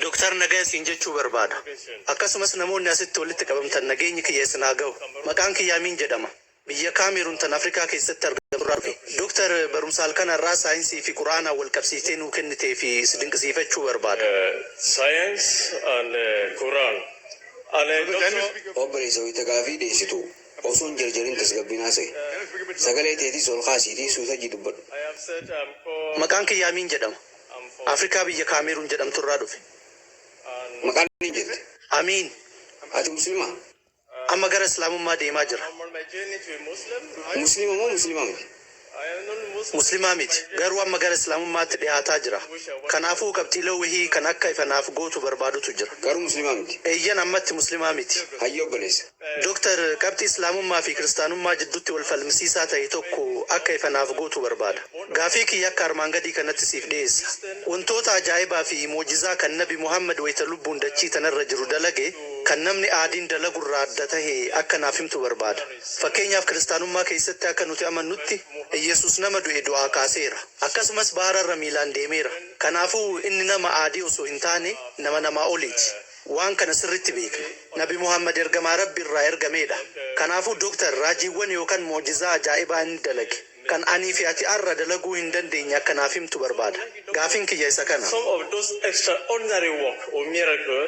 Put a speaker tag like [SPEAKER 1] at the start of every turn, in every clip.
[SPEAKER 1] Doktar nagaya siin jechuu barbaada. Akkasumas namoonni asitti walitti qabamtan nageenyi kiyya isin haa gahu. Maqaan kiyya Amiin jedhama. Biyya Kaameeruun tan Afrikaa keessatti argamtu irraa dhufe. Doktar barumsa halkan har'aa saayinsii fi Qur'aanaan wal qabsiiftee nuu kenniteef si dinqisiifachuu barbaada. Science
[SPEAKER 2] and Quran.
[SPEAKER 3] Obboleessa wayita gaafii dhiyeessitu Osoo hin jarjarin tasgabbiin haasa'i. Sagalee teetis ol kaasiitii suuta ijji dubbadhu.
[SPEAKER 1] Maqaan kiyya Amiin jedhama. Afrikaa biyya Kaameeruun jedhamtu irraa dhufe.
[SPEAKER 3] Maqaa Amiin jette? Amiin.
[SPEAKER 1] Ati Muslimaa?
[SPEAKER 3] Amma gara
[SPEAKER 1] Islaamummaa deemaa jira. Musliima
[SPEAKER 3] moo Muslimaa miti?
[SPEAKER 1] Muslimaa miti, garuu amma gara Islaamummaatti dhihaataa jira. Kanaafuu qabxiilee wahii kan akka ifa naaf gootu barbaadutu jira. Garuu Muslimaa miti?
[SPEAKER 3] Eeyyen, ammatti Muslimaa
[SPEAKER 1] miti. Hayyee obboleessa.
[SPEAKER 3] Doktar, qabxii
[SPEAKER 1] Islaamummaa fi Kiristaanummaa jidduutti wal falmisiisaa ta'e tokko akka ifa naaf gootu barbaada. Gaaffii kiyya akka armaan gadii kanatti siif dhiyeessa. Wantoota ajaa'ibaa fi mu'jizaa kan Nabi Muhammad wayta lubbuun dachii tanarra jiru dalage kan namni aadiin dalagu irraa adda tahe akka naaf himtu barbaada. Fakkeenyaaf, Kiristaanummaa keessatti akka nuti amannutti, Iyyasuus nama du'e du'aa kaaseera. Akkasumas baara irra miilaan deemeera. Kanaafuu, inni nama aadii osoo hin taane, nama namaa oliiti. Waan kana sirriitti beekna. Nabi Muhammad ergamaa Rabbi irraa ergameedha. Kanaafuu, Dr. raajiiwwan yookaan mu'jizaa ajaa'ibaa inni dalage, kan anii fi ati har'a dalaguu hin dandeenye akka naaf himtu barbaada. Gaaffiin kiyya isa kana. Some of those
[SPEAKER 2] extraordinary work or miracle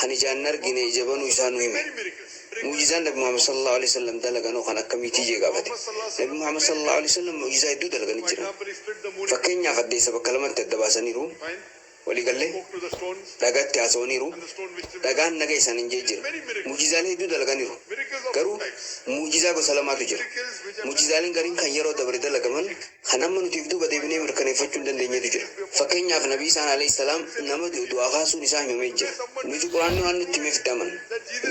[SPEAKER 3] Kan ijaan hin argine ija banuu isaa nu hime. Mu'jizaan Nabi Muhammad sallallaahu aleyhi wasallam dalagan hoo kan akkamiitii jee gaafate. Nabi Muhammad sallallaahu aleyhi wasallam mu'jizaa hedduu dalaganii jiran. Fakkeenyaaf addeessa bakka lamatti adda baasaniiru. Walii gallee? Dhagaatti haasawaniiru. Dhagaan naga isaaniin jee jira. Mu'jizaalee hedduu dalaganiiru. Garuu mu'jizaa gosa lamaatu jira. Mu'jizaaleen gariin kan yeroo dabre dalagaman. Kan amma nuti if duuba deebinee mirkaneeffachuu hin dandeenyetu jira. Fakkeenyaaf Nabi Iisaan, aleyh salaam, nama du'e du'aa kaasuun isaa himamee jira. Nuti Qur'aanni waan nutti himeef itti amanna.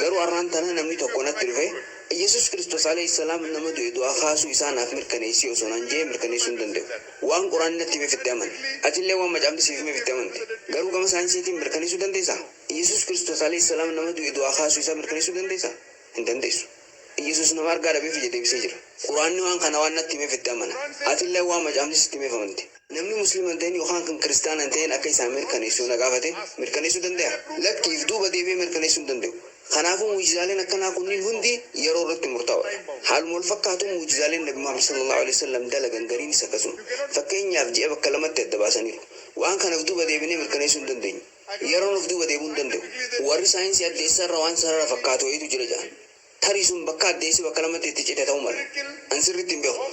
[SPEAKER 3] Garuu arraan tana namni tokko natti dhufee, Iyyasuus Kiristoos, aleyh salaam, nama du'e du'aa kaasuu isaa naaf mirkaneessi osoo naan je'ee mirkaneessuu hin danda'u. Waan Qur'aanni natti himeef itti amane. Atillee waan macaafni siif himeef itti amante. Garuu gama saayinsiitiin mirkaneessuu dandeessaa? Iyyasuus Kiristoos, aleyh salaam, nama du'e du'aa kaasuu isaa mirkaneessuu dandeessaa? Hin dandeessu. Iyyasuus nama argaa dhabeef ija deebisee jira. Qur'aanni waan kana waan natti himeef itti amana. Atilleen waan macaafni sitti himeef amante. Namni Musliima hin ta'in yookaan kan Kiristaana hin ta'in akka isaaf mirkaneessu yoo na gaafate, mirkaneessuu dandayaa? Lakki, if duuba deebi'ee mirkaneessuu hin danda'u. Kanaafuu mu'jizaaleen akkanaa kunniin hundi yeroo irratti murtaa'oodha. Haaluma wal fakkaatuun mu'jizaaleen Nabi Muhammad sallallaahu aleyhi wasallam dalagan gariinis akkasuma. Fakkeenyaaf ji'a bakka lamatti adda baasaniiru. Waan kana if duuba deebinee mirkaneessuu hin dandeenyu. Yeroon of duuba deemuu hin danda'u. Warri saayinsii addeessa irra waan sarara fakkaatu wayiitu jira jedhan. Tarii sun bakka addeessi bakka lamatti itti cite ta'uu mala. An sirriitti hin beeku.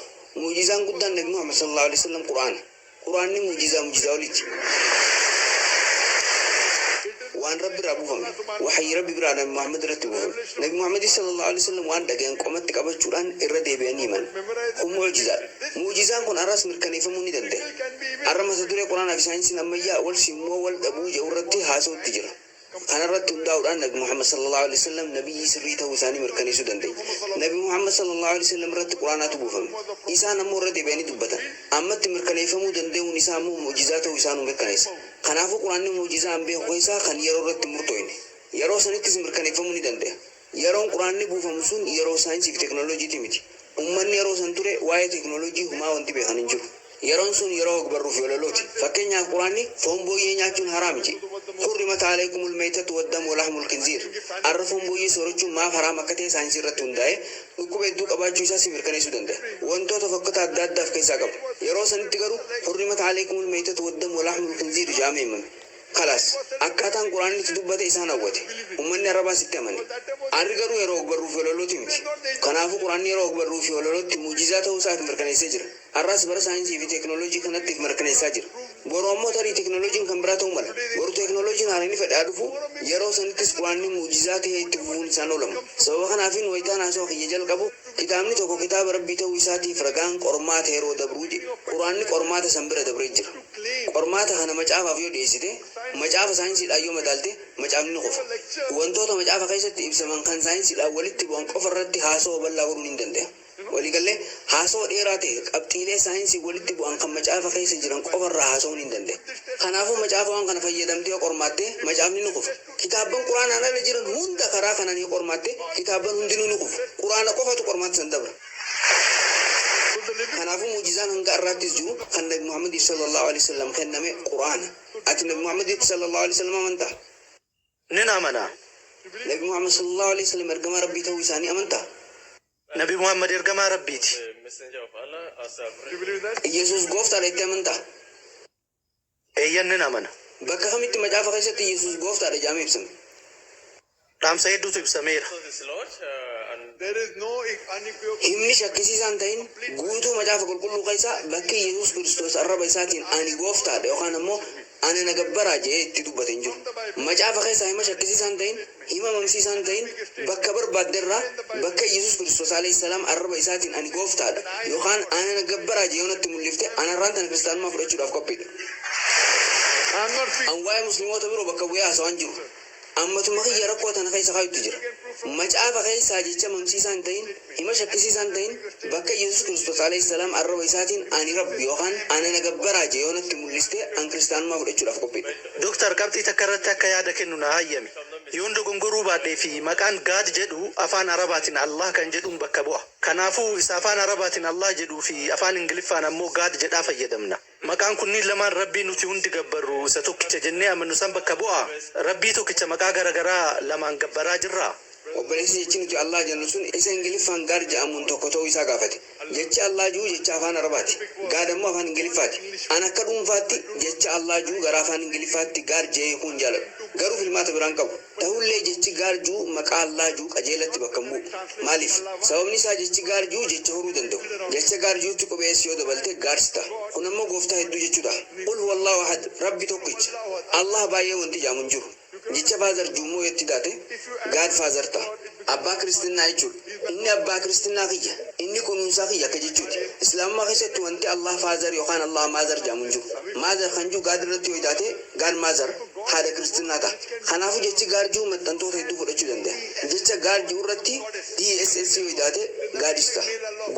[SPEAKER 3] Mu'jizaan guddaan Nabi Muhammad sallallaahu aleyhi wasallam Qur'aana. Qur'aanni mu'jizaa mu'jizaa oliiti. Waan Rabbi irraa buufame. Wahyii Rabbi biraa Nabi Muhammad irratti buufame. Nabi Muhammadis sallallaahu aleyhi wasallam waan dhagayan qomatti qabachuudhaan irra deebi'anii himan. Kun mu'jizaadha. Mu'ujizaan kun har'as mirkaneeffamuu ni dandaya. Har'a mata duree Qur'aanaa fi Saayinsiin Ammayyaa wal simu moo wal dhabuu jedhu irratti haasawutti jira. Kana irratti hundaa'uudhaan Nabi Muhammad sallallaahu aleyhi wa sallam nabiyyii sirrii ta'uu isaanii mirkaneessuu dandeenya. Nabi Muhammad sallallaahu aleyhi wa sallam irratti Qur'aanaatu buufame. Isaan ammoo irra deebi'anii dubbatan. Ammatti mirkaneeffamuu dandayuun isaa ammoo mu'ujizaa ta'uu isaa nuu mirkaneessa. Kanaafuu Qur'aanni mu'ujizaa anbiya keessaa kan yeroo irratti hin murtooyne. Yeroo sanittis mirkaneeffamuu ni dandaya. Yeroon Qur'aanni buufamu sun yeroo saayinsii fi teknolojiitii miti. Ummanni yeroo san ture waa'ee teknolojii humaa wanti beekan hin jiru. Yeroon sun yeroo hogbarruu fi walalooti. Fakkeenyaaf Qur'aanni foon booyyee nyaachuun haraami je'e. Hurrimat a'alaykumul maytatu waddamu walahmul khinziir. Arra foon booyyee soorachuun maaf haraam akka ta'e saayinsii irratti hundaa'ee dhukkuba hedduu qabaachuu isaa si mirkaneessuu danda'a. Wantoota fokkata adda addaa of keessaa qaba. Yeroo sanitti garuu Hurrimat a'alaykumul maytatu waddamu walahmul khinziir je'amee himame. Khalaas, akkaataan Qur'aanni itti dubbate isaan hawwate. Ummanni Arabaas itti amane. Aarri garuu yeroo ogbarruu fi walalooti miti. Kanaafuu Qur'aanni yeroo ogbarruu fi walalootti mu'jizaa ta'uu isaa if mirkaneessee jira. Har'aas bara saayinsii fi teeknooloojii kanatti if mirkaneessaa jira. Boru ammoo tarii teeknooloojiin kan biraa ta'uu mala. Boru teeknooloojiin haarayni fedhe haa dhufu, yeroo sanittis Qur'aanni mu'jizaa ta'ee itti fufuun isaa hin oolamu. Sababa kanaafiin wayitaan haasawa kiyya jalqabu, Kitaabni tokko kitaaba Rabbii ta'uu isaatiif ragaan qormaata yeroo dabruu jedhe. Qur'aanni qormaata san bira dabree jira. Qormaata kana macaafaaf yoo dhiyeessite, macaafa saayinsiidhaan yoo madaalte, macaafni ni kufa. Wantoota macaafa keessatti ibsaman kan saayinsiidhaan walitti bu'an qofa irratti haasawa bal'aa godhuu nin dande'a. Walii gallee, haasawa dheeraa ta'e qabxiilee saayinsiin walitti bu'an kan macaafa keessa jiran qofa irraa haasawuu nin dande'a. Kanaafuu macaafawwan kana fayyadamtee yoo qormaatte, macaafni ni kufa. Kitaabban Qur'aanaan ala jiran hunda karaa kanaan yoo qormaatte, kitaabban hundinuu ni kufu. Qur'aana qofatu qormaata san dabra. Kanaafuu mu'jizaan hanga har'aattis jiru kan Nabi Muhammadiif sallallaahu aleyhi wa sallam kenname Qur'aana. Ati Nabi Muhammaditti sallallaahu aleyhi wa sallam amantaa? Nan
[SPEAKER 1] amana. Nabi Muhammad
[SPEAKER 3] sallallaahu aleyhi wa sallam ergamaa Rabbii ta'uu isaanii amantaa? Nabi
[SPEAKER 1] Muhammad ergamaa Rabbiiti.
[SPEAKER 2] Iyyesuus
[SPEAKER 4] Gooftaadha jettee
[SPEAKER 3] amantaa?
[SPEAKER 1] Eeyyan nan amana. Bakka kamitti macaafa
[SPEAKER 3] keessatti Yesuus Gooftaa dha jedhamee ibsame?
[SPEAKER 1] Dhaamsa hedduutu ibsameera.
[SPEAKER 4] Himni shakkisiisaa hin
[SPEAKER 3] ta'in guutuu Macaafa Qulqulluu keessaa bakki Yesuus Kiristoos arraba isaatiin Ani Gooftaa dha yookaan ammoo Ana na gabbaraa jedhee itti dubbate hin jiru. Macaafa keessaa hima shakkisiisaa hin ta'in, Hin mamamsiisaa hin ta'in, bakka barbaadde irraa, bakka Iyyesuus Kiristoos, aleyh salaam, arraba isaatiin ani Gooftaa dha yookaan ana na gabbaraa jee yoo natti mul'ifte, ana irraan tana Kiristaanummaa fudhachuudhaaf qophii dha.
[SPEAKER 4] An waa'ee Muslimoota biroo bakka
[SPEAKER 3] bu'ee haasawaa hin jiru. An matuma kiyya rakkoo tana keessa kaayutti jira. Macaafa keessaa jecha mamsiisaa hin ta'in. Hima shakkisiisaa hin ta'in, bakka Iyyasuus Kiristoos, aleyh salaam, arraba isaatiin Ani Rabbi yookaan Ana na gabbaraa jee yoo natti mul'iste, an Kiristaanummaa fudhachuudhaaf qophiidha. Doktar, qabxii takka
[SPEAKER 1] irratti akka yaada kennu naa hayyami. Yoon dogongoruu baadhee fi maqaan God jedhu afaan Arabaatiin Allah kan jedhuun bakka bu'a. Kanaafuu, isa afaan Arabaatiin Allah jedhuu fi afaan Ingiliffaan ammoo God jedhaa fayyadamna. Maqaan kunniin lamaan Rabbii nuti hundi gabbarru isa tokkicha jennee amannu san bakka bu'aa? Rabbii tokkicha maqaa gara garaa lamaan gabbaraa jirraa? Obboleessi jechi
[SPEAKER 3] nuti Allaah jennu sun isa Ingiliffaan God ja'amuun tokko ta'uu isaa gaafate. Jechi Allaah ju'u jecha afaan Arabaati. God ammoo afaan Ingiliffaati. An akka dhuunfaatti jecha Allaah ju'u gara afaan Ingiliffaatti God ja'ee hiikuun jaaladha. Garuu filmaata biraa hin qabu. Tahullee jechi gaarjuu maqaa Allaah juu qajeelatti bakka hin bu'u. Maaliif? Sababni isaa jechi gaarjuu jecha horuu danda'u. Jecha gaarjuutti qubee S yoo dabalte gaars taha. Kun ammoo Gooftaa hedduu jechuu taha. Qul huwallaahu ahad, Rabbi tokkicha. Allaah baay'ee wanti ja'amu hin jiru. Jecha faazar juu immoo yoo itti daate gaad faazar taha. Abbaa Kiristinnaa jechuun inni abbaa Kiristinnaa kiyya, inni kunuunsaa kiyya akka jechuuti. Islaamummaa keessatti wanti Allah Father yookaan Allah Mother jedhamu hin jiru. Mother kan jiru God irratti yoo taate, God Mother, haadha Kiristinnaa ta'a. Kanaafuu jechi God jiru maxxantoota hedduu fudhachuu dandaya. Jecha God jiru irratti DSS yoo taate, Goddess ta'a.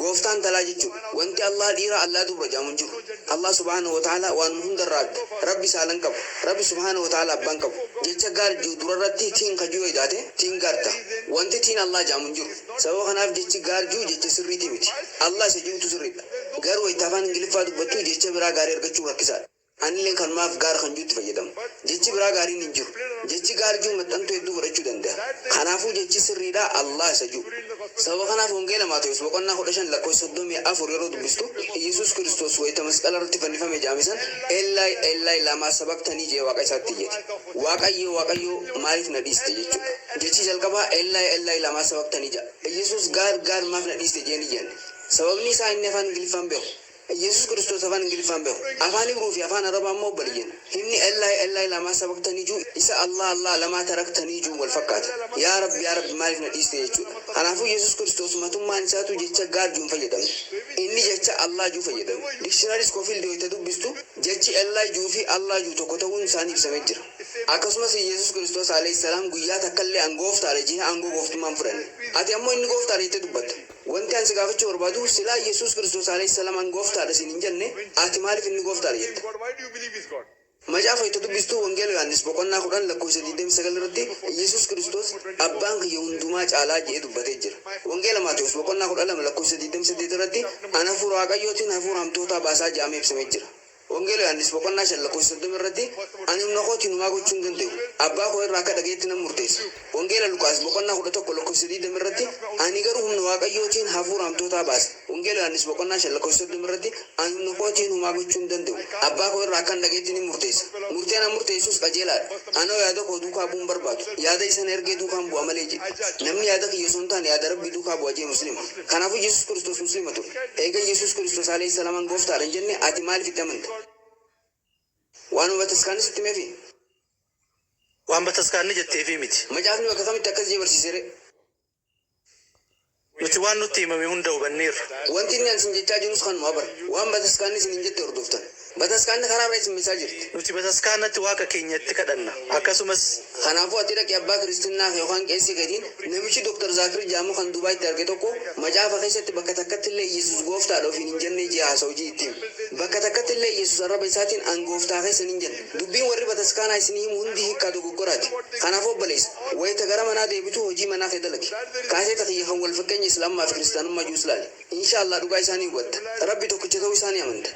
[SPEAKER 3] Gooftaa intalaa jechuudha. Wanti Allah dhiira, Allah dubra jedhamu hin jiru. Allah subhaanahu wa ta'aalaa waanuma hundarra adda. Rabbi saala hin qabu. Rabbi subhaanahu wa ta'aala abban qabu. Jecha gaar je'u durarratti tiin ka je'u edaate, tiin gaar taha. Wanti tiin Allaah je'amu hin jiru. Sababa kanaaf jechi gaar je'u jecha sirriitii miti. Allaah isa je'utu sirriidha. Garuu wayta afaan Ingiliffaa dubbattu jecha biraa gaarii argachuun rakkisaadha. Anilleen kanumaaf gaar kan je'utti fayyadama. Jechi biraa gaariin hin jiru. Jechi gaar je'u maxxantuu hedduu fudhachuu danda'a. Kanaafuu jechi sirriidhaa Allaah isa je'u. Sababa kanaaf Wangeela Maatewos boqonnaa 15 lakkoofsa 34 yeroo dubbistu Iyyesuus Kiristoos wayita masqala irratti fannifame jedhame san Eellaayi Eellaayi laamaa sabaktanii jedhee Waaqa isaatti iyyate. Waaqayyoo Waaqayyoo maaliif na dhiiste jechuudha. Jechi jalqabaa Eellaayi Eellaayi laamaa sabaktanii jedha. Iyyesuus God God maaf na dhiiste jedhee hin iyyanne. Sababni isaa inni afaan Ingiliffaan beeku. Yesus Kiristoos Afaan Ingiliffaan beeku. Afaan Ibruu fi Afaan Arabaa immoo obboleeyyan. Himni Ellaahi Ellaahi lamaa sabaqtanii juu isa Allaah Allaah lamaa taraktanii juun wal fakkaata. Yaa Rabbi yaa Rabbi maaliif na dhiiste jechuudha. Kanaafuu Yesus Kiristoos matummaan isaatuu jecha God juu hin fayyadamne. Inni jecha Allaah juu fayyadame. Dictionary Scofield wayita dubbistu jechi Ellaahi juu fi Allaah juu tokko ta'uun isaanii ibsamee jira. Akkasumas Yesus Kiristoos alayhis salaam guyyaa takkallee an gooftaadha jehe aangoo gooftummaa hin fudhanne. Ati ammoo inni gooftaadha jettee dubbatta. Wanti an si gaafachuu barbaadu, silaa Yesuus Kiristoos Aleyh Salaam an Gooftaa dha siin hin jenne, ati maaliif inni Gooftaa dha jetta?
[SPEAKER 4] Macaafa itti dubbistu
[SPEAKER 3] Wangeela Yohaannis boqonnaa 10 lakkoofsa 29 irratti Yesuus Kiristoos Abbaan kiyya hundumaa caalaa jedhee dubbatee jira. Wangeela Maatewos boqonnaa 12 lakkoofsa 28 irratti an Hafuura Waaqayyootiin hafuura hamtootaa baasaa jedhamee ibsamee jira. Wangeela Yohaannis boqonnaa 5 lakkoofsa 30 irratti, Ani humna kootiin homaa gochuu hin danda'u, Abbaa koo irraa akka dhaga'etti nan murteessa. Wangeela Luqaas boqonnaa 11 lakkoofsa 20 irratti, Ani garuu humna Waaqayyootiin hafuura hamtootaa baasa. Wangeela Yohaannis boqonnaa 5 lakkoofsa 30 irratti, Ani humna kootiin homaa gochuu hin danda'u, Abbaa koo irraa akkan dhaga'etti nin murteessa. Murteen an murteessus qajeelaa dha. Anoo yaada koo duukaa bu'uu hin barbaadu, yaada isa na ergee duukaan bu'a malee jedhe. Namni yaada kiyya osoo hin taane yaada Rabbii duukaa bu'a jedhe Muslima. Kanaafuu Yesus Kiristoos Muslima ture. Eega Yesus Kiristoos Aleyh Salaman Gooftaadha hin jenne ati maaliif itti amante? Waanuma bataskaanni sitti himeefi?
[SPEAKER 1] Waan bataskaanni jetteefi miti. Macaafni bakka kamitti akkas
[SPEAKER 3] jee barsiise ree?
[SPEAKER 1] Nuti waan nutti himame hunda hubanneerra. Wanti
[SPEAKER 3] inni an isin jechaa
[SPEAKER 1] jirus
[SPEAKER 3] kanuma bar. Waan bataskaanni isiniin jette hordoftan. Bataskaanni karaa irra isin bulchaa jirti. Nuti bataskaanatti
[SPEAKER 1] Waaqa keenyatti kadhanna. Akkasumas. Kanaafuu ati dhaqii
[SPEAKER 3] abbaa kiristinnaa kee yookaan qeesii keetiin, Namichi Dr. Zaakir jedhamu kan Dubaaitti arge tokko macaafa keessatti bakka takkatti illee Iyyesuus Gooftaadha ofiin hin jennee jee haasa'u jii itti himi. Bakka takkatti illee Iyyesuus arraba isaatiin an Gooftaa keessan hin jenne. Dubbiin warri bataskaanaa isinii himu hundi hiikkaa dogoggoraati. Kanaafuu obboleessa, wayita gara manaa deebitu hojii manaa kee dalagi. Kaaseeta kiyya kan wal fakkeenya Islaamummaa fi Kiristaanummaa jius laali. Inshaa Allaah dhugaa isaa ni hubatta. Rabbi tokkicha ta'uu isaa ni amanta.